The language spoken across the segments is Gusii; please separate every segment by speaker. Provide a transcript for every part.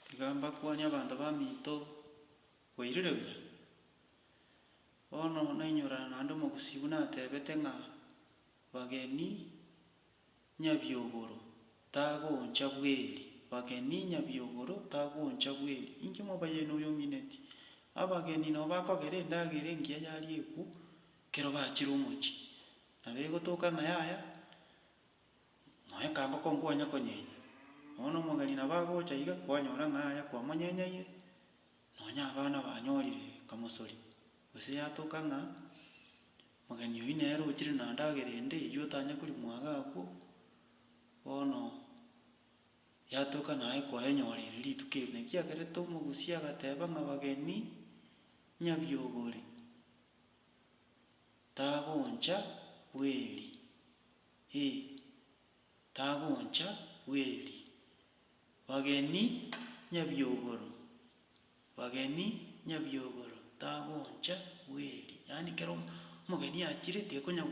Speaker 1: Tiga mbakwane abanto baminto bwairire buya. Bono nainyorana naende omogusii buna ateebete ng'a bageni nyabiogoro tagoncha bweri, bageni nyabiogoro tagoncha bweri. Inki mobayaini oyo omineti? Abageni nao bakogera endagera engiya yariekwu ekero bachire omochie, nabo egotoka ng'a yaya. Nonya kangoko nkwanya konyenya, bono omogeni nabo agocha iga kwanyora ng'a aria kwamonyenyeire, nonya abana banyorire kamosori, gose yatoka ng'a mogeni oyio nere ochire na ndagera ende eyio otanya korimwa iga agwo, bono yatoka naye kwayenyoreire rituko erio. Naki kiagerete omogusii agateba ng'a abageni nyabiogori, tagoncha bweri. ee, tagoncha bweri, bageni nyabiogoro, bageni nyabiogoro, tagoncha bweri. Yaani kera omogeni achire tekonya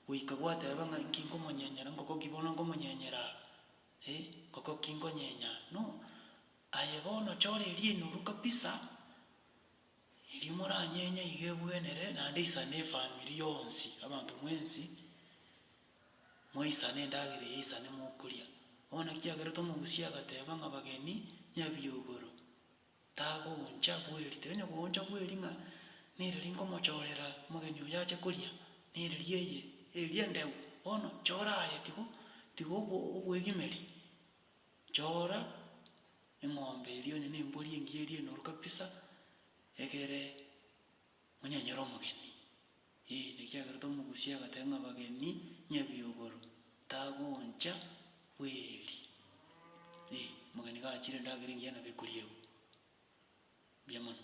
Speaker 1: goika gwateba ng'a inki nkomonyenyera, ngoko ki bono nkomonyenyera aa, ee, ngoko ki nkonyenya aa, no, aye bono chora eriena orwe kabisa, Erio moranyenye iga ebwenere, naende isane efamiri yonsi, abanto mwensi, moisane endagera eye isane mokoria. Bono ekiagerete omogusia agateba ng'a abageni nyabiogoro, tagooncha bweri, tari onye gooncha bweri ng'a nereri nkomochorera omogeni oyo ache koria, nereri eye, eria endeu, bono chora aye, tigo tiga obwegimeria, chora. Eng'ombe eria onye nembori engiya eria enoru kabisa, egere onyenyere omogeni. Ee, nekiagerete omogusia agateba ng'a abageni nyabiogoro, tagoncha bweri. Ee, omogeni gachire endagera engiya nabo ekoriegwa. Mbuya mono.